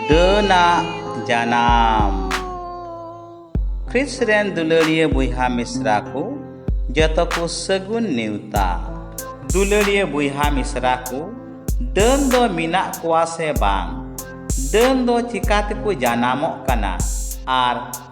ᱰᱟᱹᱱᱟ ᱡᱟᱱᱟᱢ ᱠᱷᱨᱤᱥ ᱨᱮᱱ ᱫᱩᱞᱟᱹᱲᱤᱭᱟᱹ ᱵᱚᱭᱦᱟ ᱢᱤᱥᱨᱟ ᱠᱚ ᱡᱚᱛᱚ ᱠᱚ ᱥᱟᱹᱜᱩᱱ ᱱᱮᱣᱛᱟ ᱫᱩᱞᱟᱹᱲᱤᱭᱟᱹ ᱵᱚᱭᱦᱟ ᱢᱤᱥᱨᱟ ᱠᱚ ᱰᱟᱹᱱ ᱫᱚ ᱢᱮᱱᱟᱜ ᱠᱚᱣᱟ ᱥᱮ ᱵᱟᱝ ᱰᱟᱹᱱ ᱫᱚ ᱪᱤᱠᱟ ᱛᱮᱠᱚ ᱡᱟᱱᱟᱢᱚᱜ ᱠᱟᱱᱟ ᱟᱨ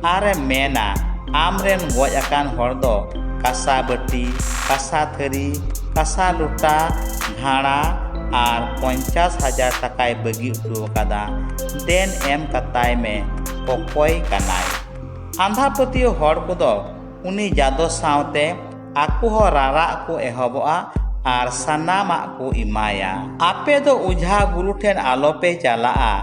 ᱟᱨᱮ ᱢᱮᱱᱟ ᱟᱢ ᱨᱮᱱ ᱜᱚᱡ ᱟᱠᱟᱱ ᱦᱚᱲ ᱫᱚ ᱠᱟᱥᱟ ᱵᱟᱹᱴᱤ ᱠᱟᱥᱟ ᱛᱷᱟᱹᱨᱤ ᱠᱟᱥᱟ ᱞᱚᱴᱟ ᱵᱷᱟᱬᱟ ᱟᱨ ᱯᱚᱧᱪᱟᱥ ᱦᱟᱡᱟᱨ ᱴᱟᱠᱟᱭ ᱵᱟᱹᱜᱤ ᱦᱚᱴᱚ ᱟᱠᱟᱫᱟ ᱫᱮᱱ ᱮᱢ ᱠᱟᱛᱟᱭ ᱢᱮ ᱚᱠᱚᱭ ᱠᱟᱱᱟᱭ ᱟᱸᱫᱷᱟ ᱯᱟᱹᱛᱭᱟᱹᱣ ᱦᱚᱲ ᱠᱚᱫᱚ ᱩᱱᱤ ᱡᱟᱫᱚ ᱥᱟᱶᱛᱮ ᱟᱠᱚ ᱦᱚᱸ ᱨᱟᱨᱟᱜ ᱠᱚ ᱮᱦᱚᱵᱚᱜᱼᱟ ᱟᱨ ᱥᱟᱱᱟᱢᱟᱜ ᱠᱚ ᱮᱢᱟᱭᱟ ᱟᱯᱮ ᱫᱚ ᱚᱡᱷᱟ ᱜᱩᱨᱩ ᱴᱷᱮᱱ ᱟᱞᱚᱯᱮ ᱪᱟᱞᱟᱜᱼᱟ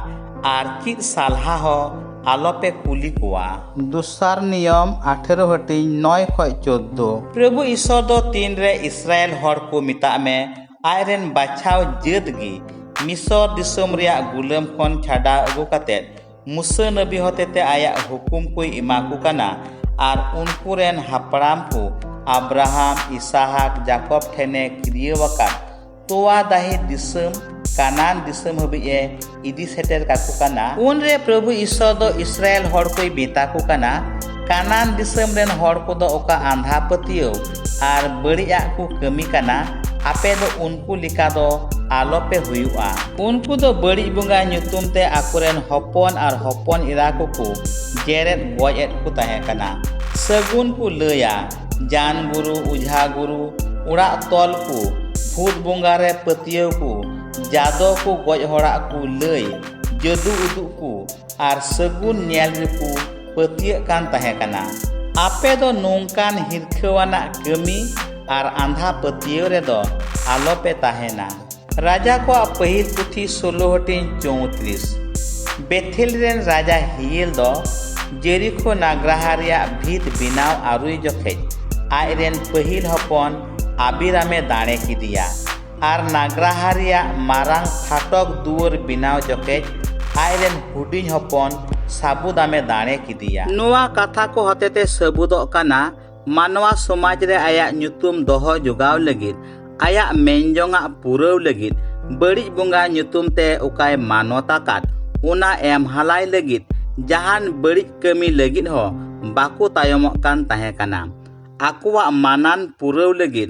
ᱟᱨ ᱪᱮᱫ ᱥᱟᱞᱦᱟ ᱦᱚᱸ ᱟᱞᱚᱯᱮ ᱠᱩᱞᱤ ᱠᱚᱣᱟ᱾ ᱫᱩᱥᱟᱨ ᱱᱤᱭᱚᱢ ᱟᱴᱷᱮᱨᱚ ᱦᱟᱹᱴᱤᱧ ᱱᱚᱭ ᱠᱷᱚᱡ ᱪᱳᱫᱫᱳ᱾ ᱯᱨᱚᱵᱷᱩ ᱤᱥᱚᱨ ᱫᱚ ᱛᱤᱱ ᱨᱮ ᱤᱥᱨᱟᱭᱮᱞ ᱦᱚᱲ ᱠᱚ ᱢᱮᱛᱟᱜ ᱢᱮ ᱟᱡ ᱨᱮᱱ ᱵᱟᱪᱷᱟᱣ ᱡᱟᱹᱛ ᱜᱮ ᱢᱤᱥᱚᱨ ᱫᱤᱥᱚᱢ ᱨᱮᱭᱟᱜ ᱜᱩᱞᱟᱹᱢ ᱠᱷᱚᱱ ᱪᱷᱟᱰᱟᱣ ᱟᱹᱜᱩ ᱠᱟᱛᱮ ᱢᱩᱥᱟᱹ ᱱᱟᱹᱵᱤ ᱦᱚᱛᱮᱛᱮ ᱟᱭᱟᱜ ᱦᱩᱠᱩᱢ ᱠᱚᱭ ᱮᱢᱟ ᱠᱚ ᱠᱟᱱᱟ ᱟᱨ ᱩᱱᱠᱩ ᱨᱮᱱ ᱦᱟᱯᱲᱟᱢ ᱠᱚ ᱟᱵᱽᱨᱟᱦᱟᱢ, ᱤᱥᱟᱦᱟᱠ, ᱡᱟᱠᱚᱵᱽ ᱴᱷᱮᱱᱮ ᱠᱤᱨᱭᱟᱹᱣ ᱟᱠᱟᱫ᱾ ᱛᱚᱣᱟ ᱫᱟᱦᱮ ᱫᱤᱥᱚᱢ ᱠᱟᱱᱟᱱ ᱫᱤᱥᱚᱢ ᱦᱟᱹᱵᱤᱡ ᱮ ᱤᱫᱤ ᱥᱮᱴᱮᱨ ᱠᱟᱠᱚ ᱠᱟᱱᱟ ᱩᱱᱨᱮ ᱯᱨᱚᱵᱷᱩ ᱤᱥᱚᱨ ᱫᱚ ᱤᱥᱨᱟᱭᱮᱞ ᱦᱚᱲ ᱠᱚᱭ ᱢᱮᱛᱟ ᱠᱚ ᱠᱟᱱᱟ ᱠᱟᱱᱟᱱ ᱫᱤᱥᱚᱢ ᱨᱮᱱ ᱦᱚᱲ ᱠᱚᱫᱚ ᱚᱠᱟ ᱟᱸᱫᱷᱟ ᱯᱟᱹᱛᱭᱟᱹᱣ ᱟᱨ ᱵᱟᱹᱲᱤᱡᱟᱜ ᱠᱚ ᱠᱟᱹᱢᱤ ᱠᱟᱱᱟ ᱟᱯᱮ ᱫᱚ ᱩᱱᱠᱩ ᱞᱮᱠᱟ ᱫᱚ ᱟᱞᱚᱯᱮ ᱦᱩᱭᱩᱜᱼᱟ ᱩᱱᱠᱩ ᱫᱚ ᱵᱟᱹᱲᱤᱡ ᱵᱚᱸᱜᱟ ᱧᱩᱛᱩᱢ ᱛᱮ ᱟᱠᱚᱨᱮᱱ ᱦᱚᱯᱚᱱ ᱟᱨ ᱦᱚᱯᱚᱱ ᱮᱨᱟ ᱠᱚᱠᱚ ᱡᱮᱨᱮᱫ ᱜᱚᱡ ᱮᱫ ᱠᱚ ᱛᱟᱦᱮᱸ ᱠᱟᱱᱟ ᱥᱟᱹᱜᱩᱱ ᱠᱚ ᱞᱟᱹᱭᱟ ᱡᱟᱱ ᱜᱩᱨᱩ ᱚᱡᱷᱟ ᱜᱩᱨᱩ ᱚᱲᱟᱜ ᱛᱚᱞ ᱠᱚ ᱵᱷᱩᱛ ᱵᱚᱸᱜᱟ ᱨᱮ ᱯᱟᱹᱛᱭᱟᱹᱣ ᱠᱚ ᱡᱟᱫᱚ ᱠᱚ ᱜᱚᱡ ᱦᱚᱲᱟᱜ ᱠᱚ ᱞᱟᱹᱭ ᱡᱟᱹᱫᱩ ᱩᱫᱩᱜ ᱠᱚ ᱟᱨ ᱥᱟᱹᱜᱩᱱ ᱧᱮᱞ ᱨᱮᱠᱚ ᱯᱟᱹᱛᱭᱟᱹᱜ ᱠᱟᱱ ᱛᱟᱦᱮᱸ ᱠᱟᱱᱟ ᱟᱯᱮ ᱫᱚ ᱱᱚᱝᱠᱟᱱ ᱦᱤᱨᱠᱷᱟᱹᱣᱟᱱᱟᱜ ᱠᱟᱹᱢᱤ ᱟᱨ ᱟᱸᱫᱷᱟ ᱯᱟᱹᱛᱭᱟᱹᱣ ᱨᱮᱫᱚ ᱟᱞᱚᱯᱮ ᱛᱟᱦᱮᱱᱟ ᱨᱟᱡᱟ ᱠᱚᱣᱟᱜ ᱯᱟᱹᱦᱤᱞ ᱯᱩᱛᱷᱤ ᱥᱳᱞᱳ ᱦᱟᱹᱴᱤᱧ ᱪᱳᱣᱛᱨᱤᱥ ᱵᱮᱛᱷᱮᱞ ᱨᱮᱱ ᱨᱟᱡᱟ ᱦᱤᱭᱮᱞ ᱫᱚ ᱡᱮᱨᱤᱠᱷᱳ ᱱᱟᱜᱽᱨᱟᱦᱟ ᱨᱮᱭᱟᱜ ᱵᱷᱤᱛ ᱵᱮᱱᱟᱣ ᱟᱹᱨᱩᱭ ᱡᱚᱠᱷᱮᱡ ᱟᱡ ᱨᱮᱱ ᱯᱟᱹᱦᱤᱞ ᱦᱚᱯᱚᱱ ᱟᱵᱤᱨᱟᱢᱮ ᱫᱟᱲᱮ ᱠᱮᱫᱮᱭᱟ ᱟᱨ ᱱᱟᱜᱽᱨᱟᱦᱟ ᱨᱮᱭᱟᱜ ᱢᱟᱨᱟᱝ ᱯᱷᱟᱴᱚᱠ ᱫᱩᱣᱟᱹᱨ ᱵᱮᱱᱟᱣ ᱡᱚᱠᱷᱮᱡ ᱟᱡ ᱨᱮᱱ ᱦᱩᱰᱤᱧ ᱦᱚᱯᱚᱱ ᱥᱟᱵᱩᱫᱟᱢᱮ ᱫᱟᱲᱮ ᱠᱮᱫᱮᱭᱟ ᱱᱚᱣᱟ ᱠᱟᱛᱷᱟ ᱠᱚ ᱦᱚᱛᱮᱛᱮ ᱥᱟᱹᱵᱩᱫᱚᱜ ᱠᱟᱱᱟ ᱢᱟᱱᱣᱟ ᱥᱚᱢᱟᱡᱽ ᱨᱮ ᱟᱭᱟᱜ ᱧᱩᱛᱩᱢ ᱫᱚᱦᱚ ᱡᱚᱜᱟᱣ ᱞᱟᱹᱜᱤᱫ ᱟᱭᱟᱜ ᱢᱮᱱᱡᱚᱝᱟᱜ ᱯᱩᱨᱟᱹᱣ ᱞᱟᱹᱜᱤᱫ ᱵᱟᱹᱲᱤᱡ ᱵᱚᱸᱜᱟ ᱧᱩᱛᱩᱢ ᱛᱮ ᱚᱠᱟᱭ ᱢᱟᱱᱚᱛ ᱟᱠᱟᱫ ᱚᱱᱟ ᱮᱢ ᱦᱟᱞᱟᱭ ᱞᱟᱹᱜᱤᱫ ᱡᱟᱦᱟᱱ ᱵᱟᱹᱲᱤᱡ ᱠᱟᱹᱢᱤ ᱞᱟᱹᱜᱤᱫ ᱦᱚᱸ ᱵᱟᱠᱚ ᱛᱟᱭᱚᱢᱚᱜ ᱠᱟᱱ ᱛᱟᱦᱮᱸ ᱠᱟᱱᱟ ᱟᱠᱚᱣᱟᱜ ᱢᱟᱱᱟᱱ ᱯᱩᱨᱟᱹᱣ ᱞᱟᱹᱜᱤᱫ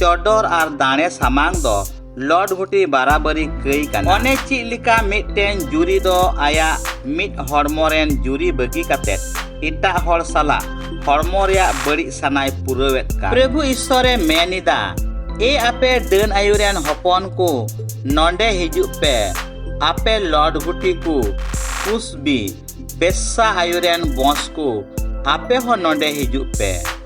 ᱪᱚᱰᱚᱨ ᱟᱨ ᱫᱟᱲᱮ ᱥᱟᱢᱟᱝ ᱫᱚ ᱞᱚᱰ ᱜᱷᱩᱴᱤ ᱵᱟᱨᱟᱵᱟᱹᱨᱤ ᱠᱟᱹᱭ ᱠᱟᱱᱟ ᱚᱱᱮ ᱪᱮᱫ ᱞᱮᱠᱟ ᱢᱤᱫᱴᱮᱱ ᱡᱩᱨᱤ ᱫᱚ ᱟᱭᱟᱜ ᱢᱤᱫ ᱦᱚᱲᱢᱚ ᱨᱮᱱ ᱡᱩᱨᱤ ᱵᱟᱹᱜᱤ ᱠᱟᱛᱮ ᱮᱴᱟᱜ ᱦᱚᱲ ᱥᱟᱞᱟᱜ ᱦᱚᱲᱢᱚ ᱨᱮᱭᱟᱜ ᱵᱟᱹᱲᱤᱡ ᱥᱟᱱᱟᱭ ᱯᱩᱨᱟᱹᱣᱮᱫ ᱠᱟᱱ ᱯᱨᱚᱵᱷᱩ ᱤᱥᱥᱚᱨᱮ ᱢᱮᱱ ᱮᱫᱟ ᱮ ᱟᱯᱮ ᱰᱟᱹᱱ ᱟᱭᱩ ᱨᱮᱱ ᱦᱚᱯᱚᱱ ᱠᱚ ᱱᱚᱰᱮ ᱦᱤᱡᱩᱜ ᱯᱮ ᱟᱯᱮ ᱞᱚᱰ ᱜᱷᱩᱴᱤ ᱠᱚ ᱠᱩᱥᱵᱤ ᱵᱮᱥᱟ ᱟᱭᱩ ᱨᱮᱱ ᱵᱚᱸᱥ ᱠᱚ ᱟᱯᱮ ᱦᱚᱸ ᱱᱚᱰᱮ ᱦᱤᱡᱩᱜ ᱯᱮ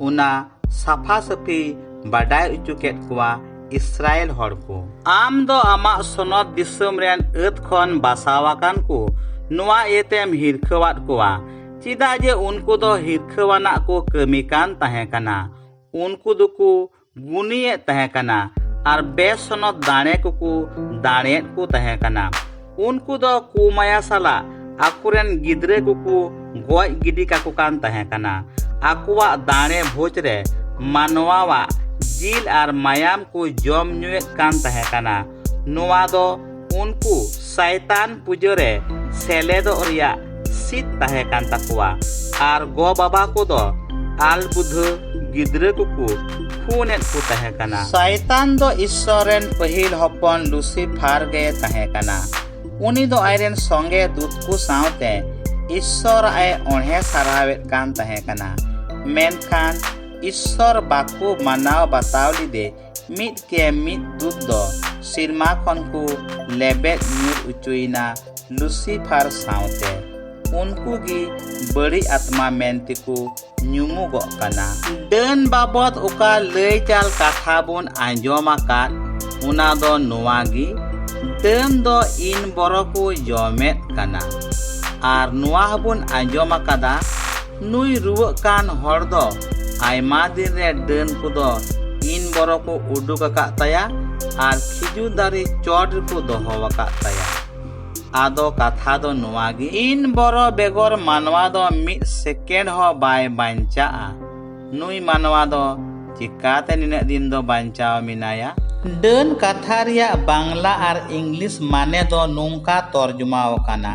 ᱚᱱᱟ ᱥᱟᱯᱷᱟ ᱥᱟᱹᱯᱷᱤ ᱵᱟᱰᱟᱭ ᱚᱪᱚ ᱠᱮᱫ ᱠᱚᱣᱟ ᱤᱥᱨᱟᱭᱮᱞ ᱦᱚᱲ ᱠᱚ ᱟᱢ ᱫᱚ ᱟᱢᱟᱜ ᱥᱚᱱᱚᱛ ᱫᱤᱥᱚᱢ ᱨᱮᱱ ᱟᱹᱛ ᱠᱷᱚᱱ ᱵᱟᱥᱟᱣ ᱟᱠᱟᱱ ᱠᱚ ᱱᱚᱣᱟ ᱤᱭᱟᱹᱛᱮᱢ ᱦᱤᱨᱠᱷᱟᱹᱣᱟᱫ ᱠᱚᱣᱟ ᱪᱮᱫᱟᱜ ᱡᱮ ᱩᱱᱠᱩ ᱫᱚ ᱦᱤᱨᱠᱷᱟᱹᱣᱟᱱᱟᱜ ᱠᱚ ᱠᱟᱹᱢᱤ ᱠᱟᱱ ᱛᱟᱦᱮᱸ ᱠᱟᱱᱟ ᱩᱱᱠᱩ ᱫᱚᱠᱚ ᱜᱩᱱᱤᱭᱮᱫ ᱛᱟᱦᱮᱸ ᱠᱟᱱᱟ ᱟᱨ ᱵᱮᱥᱚᱱᱚᱛ ᱫᱟᱲᱮ ᱠᱚᱠᱚ ᱫᱟᱲᱮᱭᱮᱫ ᱠᱚ ᱛᱟᱦᱮᱸ ᱠᱟᱱᱟ ᱩᱱᱠᱩ ᱫᱚ ᱠᱩᱢᱟᱭᱟ ᱥᱟᱞᱟᱜ ᱟᱠᱚᱨᱮᱱ ᱜᱤᱫᱽᱨᱟᱹ ᱠᱚᱠᱚ ᱜᱚᱡ ᱜᱤᱰᱤ ᱠᱟᱠᱚ ᱠᱟᱱ ᱛᱟᱦᱮᱸ ᱠᱟᱱᱟ ᱟᱠᱚᱣᱟᱜ ᱫᱟᱲᱮ ᱵᱷᱳᱡᱽ ᱨᱮ ᱢᱟᱱᱣᱟᱣᱟᱜ ᱡᱤᱞ ᱟᱨ ᱢᱟᱭᱟᱢ ᱠᱚ ᱡᱚᱢ ᱧᱩᱭᱮᱫ ᱠᱟᱱ ᱛᱟᱦᱮᱸ ᱠᱟᱱᱟ ᱱᱚᱣᱟ ᱫᱚ ᱩᱱᱠᱩ ᱥᱟᱭᱛᱟᱱ ᱯᱩᱡᱟᱹ ᱨᱮ ᱥᱮᱞᱮᱫᱚᱜ ᱨᱮᱭᱟᱜ ᱥᱤᱫ ᱛᱟᱦᱮᱸ ᱠᱟᱱ ᱛᱟᱠᱚᱣᱟ ᱟᱨ ᱜᱚ ᱵᱟᱵᱟ ᱠᱚᱫᱚ ᱟᱞ ᱵᱩᱫᱷᱟᱹ ᱜᱤᱫᱽᱨᱟᱹ ᱠᱚᱠᱚ ᱠᱷᱩᱱᱮᱫ ᱠᱚ ᱛᱟᱦᱮᱸ ᱠᱟᱱᱟ ᱥᱟᱭᱛᱟᱱ ᱫᱚ ᱤᱥᱥᱚᱨ ᱨᱮᱱ ᱯᱟᱹᱦᱤᱞ ᱦᱚᱯᱚᱱ ᱞᱩᱥᱤᱯᱷᱟᱨ ᱜᱮ ᱛᱟᱦᱮᱸ ᱠᱟᱱᱟ ᱩᱱᱤ ᱫᱚ ᱟᱡᱨᱮᱱ ᱥᱚᱸᱜᱮ ᱫᱩᱛ ᱠᱚ ᱥᱟᱶᱛᱮ ᱤᱥᱥᱚᱨ ᱟᱡ ᱚᱬᱦᱮ ᱥᱟᱨᱦᱟᱣᱮᱫ ᱠᱟᱱ ᱛᱟᱦᱮᱸ ᱠᱟᱱᱟ ᱢᱮᱱᱠᱷᱟᱱ ᱤᱥᱥᱚᱨ ᱵᱟᱠᱚ ᱢᱟᱱᱟᱣ ᱵᱟᱛᱟᱣ ᱞᱮᱫᱮ ᱢᱤᱫ ᱠᱮ ᱢᱤᱫ ᱫᱩᱛ ᱫᱚ ᱥᱤᱨᱢᱟ ᱠᱷᱚᱱ ᱠᱚ ᱞᱮᱵᱮᱫ ᱧᱩᱨ ᱚᱪᱚᱭᱮᱱᱟ ᱞᱩᱥᱤᱯᱷᱟᱨ ᱥᱟᱶᱛᱮ ᱩᱱᱠᱩ ᱜᱮ ᱵᱟᱹᱲᱤᱡ ᱟᱛᱢᱟ ᱢᱮᱱᱛᱮ ᱠᱚ ᱧᱩᱢᱩᱜᱚᱜ ᱠᱟᱱᱟ ᱰᱟᱹᱱ ᱵᱟᱵᱚᱫ ᱚᱠᱟ ᱞᱟᱹᱭ ᱪᱟᱞ ᱠᱟᱛᱷᱟ ᱵᱚᱱ ᱟᱸᱡᱚᱢ ᱟᱠᱟᱫ ᱚᱱᱟ ᱫᱚ ᱱᱚᱣᱟ ᱜᱮ ᱰᱟᱹᱱ ᱫᱚ ᱤᱱ ᱵᱚᱨᱚ ᱠᱚ ᱡᱚᱢᱮᱫ ᱠᱟᱱᱟ ᱟᱨ ᱱᱚᱣᱟ ᱦᱚᱸᱵᱚᱱ ᱟᱸᱡᱚᱢ ᱟᱠᱟᱫᱟ ᱱᱩᱭ ᱨᱩᱣᱟᱹᱜ ᱠᱟᱱ ᱦᱚᱲ ᱫᱚ ᱟᱭᱢᱟ ᱫᱤᱱ ᱨᱮ ᱰᱟᱹᱱ ᱠᱚᱫᱚ ᱤᱱ ᱵᱚᱨᱚ ᱠᱚ ᱩᱰᱩᱠ ᱟᱠᱟᱫ ᱛᱟᱭᱟ ᱟᱨ ᱠᱷᱤᱡᱩᱨ ᱫᱟᱨᱮ ᱪᱚᱴ ᱨᱮᱠᱚ ᱫᱚᱦᱚ ᱟᱠᱟᱫ ᱛᱟᱭᱟ ᱟᱫᱚ ᱠᱟᱛᱷᱟ ᱫᱚ ᱱᱚᱣᱟ ᱜᱮ ᱤᱱ ᱵᱚᱨᱚ ᱵᱮᱜᱚᱨ ᱢᱟᱱᱣᱟ ᱫᱚ ᱢᱤᱫ ᱥᱮᱠᱮᱱᱰ ᱦᱚᱸ ᱵᱟᱭ ᱵᱟᱧᱪᱟᱜᱼᱟ ᱱᱩᱭ ᱢᱟᱱᱣᱟ ᱫᱚ ᱪᱤᱠᱟᱛᱮ ᱱᱤᱱᱟᱹᱜ ᱫᱤᱱ ᱫᱚ ᱵᱟᱧᱪᱟᱣ ᱢᱮᱱᱟᱭᱟ ᱰᱟᱹᱱ ᱠᱟᱛᱷᱟ ᱨᱮᱭᱟᱜ ᱵᱟᱝᱞᱟ ᱟᱨ ᱤᱝᱞᱤᱥ ᱢᱟᱱᱮ ᱫᱚ ᱱᱚᱝᱠᱟ ᱛᱚᱨᱡᱚᱢᱟ ᱟᱠᱟᱱᱟ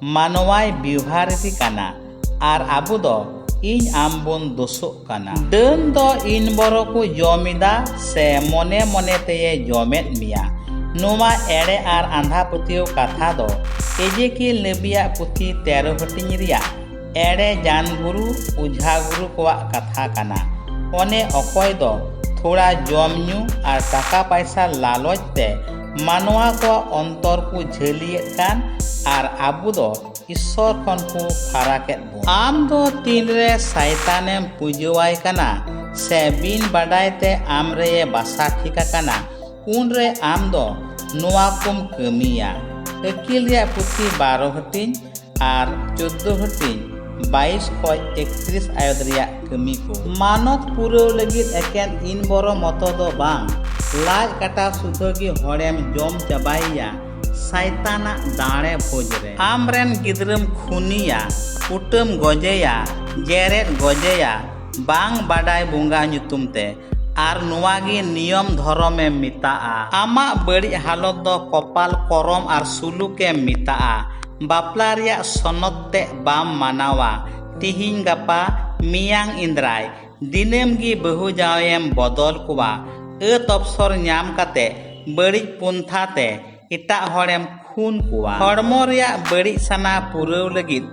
ᱢᱟᱱᱣᱟᱭ ᱵᱮᱣᱦᱟᱨ ᱮᱫᱮ ᱠᱟᱱᱟ ᱟᱨ ᱟᱵᱚ ᱫᱚ ᱤᱧ ᱟᱢ ᱵᱚᱱ ᱫᱳᱥᱚᱜ ᱠᱟᱱᱟ᱾ ᱰᱟᱹᱱ ᱫᱚ ᱤᱱ ᱵᱚᱨᱚ ᱠᱚ ᱡᱚᱢ ᱮᱫᱟ ᱥᱮ ᱢᱚᱱᱮ ᱢᱚᱱᱮ ᱛᱮᱭᱮ ᱡᱚᱢᱮᱫ ᱢᱮᱭᱟ᱾ ᱱᱚᱣᱟ ᱮᱲᱮ ᱟᱨ ᱟᱸᱫᱷᱟ ᱯᱟᱹᱛᱭᱟᱹᱣ ᱠᱟᱛᱷᱟ ᱫᱚ ᱮᱡᱮᱠᱤᱭᱮᱞ ᱱᱟᱹᱵᱤᱭᱟᱜ ᱯᱩᱛᱷᱤ ᱛᱮᱨᱚ ᱦᱟᱹᱴᱤᱧ ᱨᱮᱭᱟᱜ ᱮᱲᱮ ᱡᱟᱱ ᱜᱩᱨᱩ ᱩᱡᱷᱟ ᱜᱩᱨᱩ ᱠᱚᱣᱟᱜ ᱠᱟᱛᱷᱟ ᱠᱟᱱᱟ ᱚᱱᱮ ᱚᱠᱚᱭ ᱫᱚ ᱛᱷᱚᱲᱟ ᱡᱚᱢ ᱧᱩ ᱟᱨ ᱴᱟᱠᱟ ᱯᱟᱭᱥᱟ ᱞᱟᱞᱚᱪ ᱛᱮ ᱢᱟᱱᱣᱟ ᱠᱚᱣᱟᱜ ᱚᱱᱛᱚᱨ ᱠᱚ ᱡᱷᱟᱹᱞᱤᱭᱮᱫ ᱠᱟᱱ ᱟᱨ ᱟᱵᱚ ᱫᱚ ᱤᱥᱥᱚᱨ ᱠᱷᱚᱱ ᱠᱚ ᱯᱷᱟᱨᱟᱠᱮᱫ ᱵᱚᱱ ᱟᱢ ᱫᱚ ᱛᱤᱱᱨᱮ ᱥᱟᱭᱛᱟᱱᱮᱢ ᱯᱩᱡᱟᱹᱣᱟᱭ ᱠᱟᱱᱟ ᱥᱮ ᱵᱤᱱ ᱵᱟᱰᱟᱭ ᱛᱮ ᱟᱢ ᱨᱮᱭᱮ ᱵᱟᱥᱟ ᱴᱷᱤᱠ ᱟᱠᱟᱱᱟ ᱩᱱᱨᱮ ᱟᱢ ᱫᱚ ᱱᱚᱣᱟ ᱠᱚᱢ ᱠᱟᱹᱢᱤᱭᱟ ᱟᱹᱠᱤᱞ ᱨᱮᱭᱟᱜ ᱯᱩᱛᱷᱤ ᱵᱟᱨᱚ ᱦᱟᱹᱴᱤᱧ ᱟᱨ ᱪᱳᱫᱽᱫᱳ ᱦᱟᱹᱴᱤᱧ ᱵᱟᱭᱤᱥ ᱠᱷᱚᱡ ᱮᱠᱛᱨᱤᱥ ᱟᱭᱚᱛ ᱨᱮᱭᱟᱜ ᱠᱟᱹᱢᱤ ᱠᱚ ᱢᱟᱱᱚᱛ ᱯᱩᱨᱟᱹᱣ ᱞᱟᱹᱜᱤᱫ ᱮᱠᱮᱱ ᱤᱱ ᱵᱚᱨᱚ ᱢᱚᱛᱚ ᱫᱚ ᱵᱟᱝ ᱞᱟᱡ ᱠᱟᱴᱟ ᱥᱩᱫᱷᱟᱹ ᱜᱮ ᱦᱚᱲᱮᱢ ᱡᱚᱢ ᱪᱟᱵᱟᱭᱮᱭᱟ ᱥᱟᱭᱛᱟᱱᱟᱜ ᱫᱟᱲᱮ ᱵᱷᱳᱡᱽ ᱨᱮ ᱟᱢ ᱨᱮᱱ ᱜᱤᱫᱽᱨᱟᱹᱢ ᱠᱷᱩᱱᱤᱭᱟ ᱠᱩᱴᱟᱹᱢ ᱜᱚᱡᱮᱭᱟ ᱡᱮᱨᱮᱫ ᱜᱚᱡᱮᱭᱟ ᱵᱟᱝ ᱵᱟᱰᱟᱭ ᱵᱚᱸᱜᱟ ᱧᱩᱛᱩᱢ ᱛᱮ ᱟᱨ ᱱᱚᱣᱟ ᱜᱮ ᱱᱤᱭᱚᱢ ᱫᱷᱚᱨᱚᱢ ᱮᱢ ᱢᱮᱛᱟᱜᱼᱟ ᱟᱢᱟᱜ ᱵᱟᱹᱲᱤᱡ ᱦᱟᱞᱚᱛ ᱫᱚ ᱠᱚᱯᱟᱞ ᱠᱚᱨᱚᱢ ᱟᱨ ᱥᱩᱞᱩᱠ ᱮᱢ ᱢᱮᱛᱟᱜᱼᱟ ᱵᱟᱯᱞᱟ ᱨᱮᱭᱟᱜ ᱥᱚᱱᱚᱛ ᱛᱮᱫ ᱵᱟᱢ ᱢᱟᱱᱟᱣᱟ ᱛᱤᱦᱤᱧ ᱜᱟᱯᱟ ᱢᱮᱭᱟᱝ ᱤᱱᱫᱽᱨᱟᱭ ᱫᱤᱱᱟᱹᱢ ᱜᱮ ᱵᱟᱹᱦᱩ ᱡᱟᱶᱟᱭᱮᱢ ᱵᱚᱫᱚᱞ ᱠᱚᱣᱟ ᱟᱹᱛ ᱚᱯᱥᱚᱨ ᱧᱟᱢ ᱠᱟᱛᱮ ᱵᱟᱹᱲᱤᱡ ᱯᱚᱱᱛᱷᱟ ᱛᱮ ᱮᱴᱟᱜ ᱦᱚᱲᱮᱢ ᱠᱷᱩᱱ ᱠᱚᱣᱟ ᱦᱚᱲᱢᱚ ᱨᱮᱭᱟᱜ ᱵᱟᱹᱲᱤᱡ ᱥᱟᱱᱟ ᱯᱩᱨᱟᱹᱣ ᱞᱟᱹᱜᱤᱫ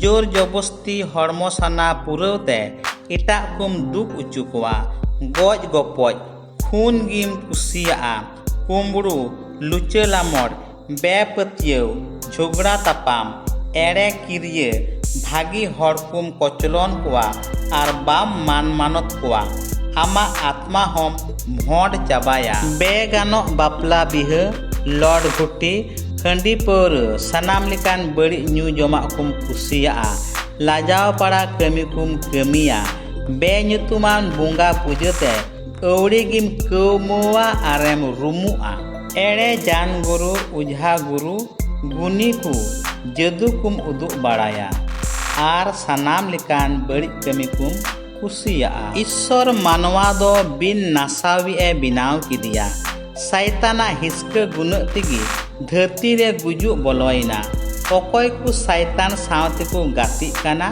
ᱡᱳᱨ ᱡᱚᱵᱚᱥᱛᱤ ᱦᱚᱲᱢᱚ ᱥᱟᱱᱟ ᱯᱩᱨᱟᱹᱣ ᱛᱮ ᱮᱴᱟᱜ ᱠᱚᱢ ᱫᱩᱠ ᱚᱪᱚ ᱠᱚᱣᱟ ᱜᱚᱡ ᱜᱚᱯᱚᱡ ᱠᱷᱩᱱ ᱜᱮᱢ ᱠᱩᱥᱤᱭᱟᱜᱼᱟ ᱠᱩᱢᱵᱽᱲᱩ ᱞᱩᱪᱟᱹ ᱞᱟᱢᱚᱲ ᱵᱮᱯᱟᱹᱛᱭᱟᱹᱣ ᱡᱷᱚᱜᱽᱲᱟ ᱛᱟᱯᱟᱢ ᱮᱲᱮ ᱠᱤᱨᱭᱟᱹ ᱵᱷᱟᱹᱜᱤ ᱦᱚᱲ ᱠᱚᱢ ᱠᱚᱪᱞᱚᱱ ᱠᱚᱣᱟ ᱟᱨ ᱵᱟᱢ ᱢᱟᱱ ᱢᱟᱱᱚᱛ ᱠᱚᱣᱟ ᱟᱢᱟᱜ ᱟᱛᱢᱟ ᱦᱚᱢ ᱵᱷᱚᱸᱰ ᱪᱟᱵᱟᱭᱟ ᱵᱮᱜᱟᱱᱚᱜ ᱵᱟᱯᱞᱟ ᱵᱤᱦᱟᱹ ᱞᱚᱰ ᱜᱷᱩᱴᱤ ᱦᱟᱺᱰᱤ ᱯᱟᱹᱣᱨᱟᱹ ᱥᱟᱱᱟᱢ ᱞᱮᱠᱟᱱ ᱵᱟᱹᱲᱤᱡ ᱧᱩ ᱡᱚᱢᱟᱜ ᱠᱚᱢ ᱠᱩᱥᱤᱭᱟᱜᱼᱟ ᱞᱟᱡᱟᱣ ᱯᱟᱲᱟ ᱠᱟᱹᱢᱤ ᱠᱚᱢ ᱠᱟᱹᱢᱤᱭᱟ ᱵᱮᱼᱧᱩᱛᱩᱢᱟᱱ ᱵᱚᱸᱜᱟ ᱯᱩᱡᱟᱹ ᱛᱮ ᱟᱹᱣᱲᱤ ᱜᱮᱢ ᱠᱟᱹᱣᱢᱟᱹᱣᱟ ᱟᱨᱮᱢ ᱨᱩᱢᱩᱜᱼᱟ ᱮᱲᱮ ᱡᱟᱱ ᱜᱩᱨᱩ ᱚᱡᱷᱟ ᱜᱩᱨᱩ ᱜᱩᱱᱤ ᱠᱚ ᱡᱟᱹᱫᱩ ᱠᱚᱢ ᱩᱫᱩᱜ ᱵᱟᱲᱟᱭᱟ ᱟᱨ ᱥᱟᱱᱟᱢ ᱞᱮᱠᱟᱱ ᱵᱟᱹᱲᱤᱡ ᱠᱟᱹᱢᱤ ᱠᱚᱢ ᱠᱩᱥᱤᱭᱟᱜᱼᱟ ᱤᱥᱥᱚᱨ ᱢᱟᱱᱣᱟ ᱫᱚ ᱵᱤᱱ ᱱᱟᱥᱟᱣᱤᱡ ᱮ ᱵᱮᱱᱟᱣ ᱠᱮᱫᱮᱭᱟ ᱥᱟᱭᱛᱟᱱᱟᱜ ᱦᱤᱥᱠᱟᱹ ᱜᱩᱱᱟᱹᱜ ᱛᱮᱜᱮ ᱫᱷᱟᱹᱨᱛᱤ ᱨᱮ ᱜᱩᱡᱩᱜ ᱵᱚᱞᱚᱭᱮᱱᱟ ᱚᱠᱚᱭ ᱠᱚ ᱥᱟᱭᱛᱟᱱ ᱥᱟᱶ ᱛᱮᱠᱚ ᱜᱟᱛᱮᱜ ᱠᱟᱱᱟ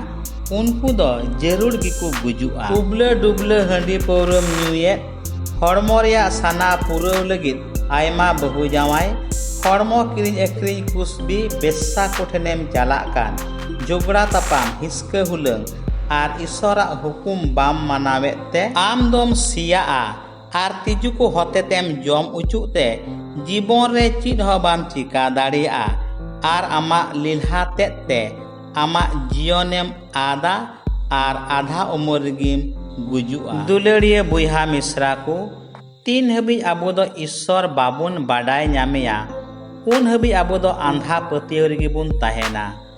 ᱩᱱᱠᱩ ᱫᱚ ᱡᱟᱹᱨᱩᱲ ᱜᱮᱠᱚ ᱜᱩᱡᱩᱜᱼᱟ ᱩᱵᱞᱟᱹ ᱰᱩᱵᱞᱟᱹ ᱦᱟᱺᱰᱤ ᱯᱟᱹᱣᱨᱟᱹᱢ ᱧᱩᱭᱮᱫ ᱦᱚᱲᱢᱚ ᱨᱮᱭᱟᱜ ᱥᱟᱱᱟ ᱯᱩᱨᱟᱹᱣ ᱞᱟᱹᱜᱤᱫ ᱟᱭᱢᱟ ᱵᱟᱹᱦᱩ ᱡᱟᱶᱟᱭ ᱦᱚᱲᱢᱚ ᱠᱤᱨᱤᱧ ᱟᱹᱠᱷᱨᱤᱧ ᱠᱩᱥᱵᱤ ᱵᱮᱥᱥᱟ ᱠᱚᱴᱷᱮᱱᱮᱢ ᱪᱟᱞᱟᱜ ᱠᱟᱱ ᱡᱚᱜᱽᱲᱟ ᱛᱟᱯᱟᱢ ᱦᱤᱥᱠᱟᱹ ᱦᱩᱞᱟᱹᱝ ᱟᱨ ᱤᱥᱚᱨᱟᱜ ᱦᱩᱠᱩᱢ ᱵᱟᱢ ᱢᱟᱱᱟᱣᱮᱫ ᱛᱮ ᱟᱢ ᱫᱚᱢ ᱥᱮᱭᱟᱜᱼᱟ ᱟᱨ ᱛᱤᱡᱩ ᱠᱚ ᱦᱚᱛᱮᱛᱮᱢ ᱡᱚᱢ ᱚᱪᱚᱜ ᱛᱮ ᱡᱤᱵᱚᱱ ᱨᱮ ᱪᱮᱫ ᱦᱚᱸ ᱵᱟᱢ ᱪᱤᱠᱟ ᱫᱟᱲᱮᱭᱟᱜᱼᱟ ᱟᱨ ᱟᱢᱟᱜ ᱞᱮᱞᱦᱟ ᱛᱮᱫ ᱛᱮ ᱟᱢᱟᱜ ᱡᱤᱭᱚᱱᱮᱢ ᱟᱫᱟ ᱟᱨ ᱟᱫᱷᱟ ᱩᱢᱮᱨ ᱨᱮᱜᱮᱢ ᱜᱩᱡᱩᱜᱼᱟ ᱫᱩᱞᱟᱹᱲᱤᱭᱟᱹ ᱵᱚᱭᱦᱟ ᱢᱤᱥᱨᱟ ᱠᱚ ᱛᱤᱱ ᱦᱟᱹᱵᱤᱡ ᱟᱵᱚ ᱫᱚ ᱤᱥᱥᱚᱨ ᱵᱟᱵᱚᱱ ᱵᱟᱰᱟᱭ ᱧᱟᱢᱮᱭᱟ ᱩᱱ ᱦᱟᱹᱵᱤᱡ ᱟᱵᱚ ᱫᱚ ᱟᱸᱫᱷᱟ ᱯᱟᱹᱛᱭᱟᱹᱣ ᱨᱮᱜᱮ ᱵᱚᱱ ᱛᱟᱦᱮᱱᱟ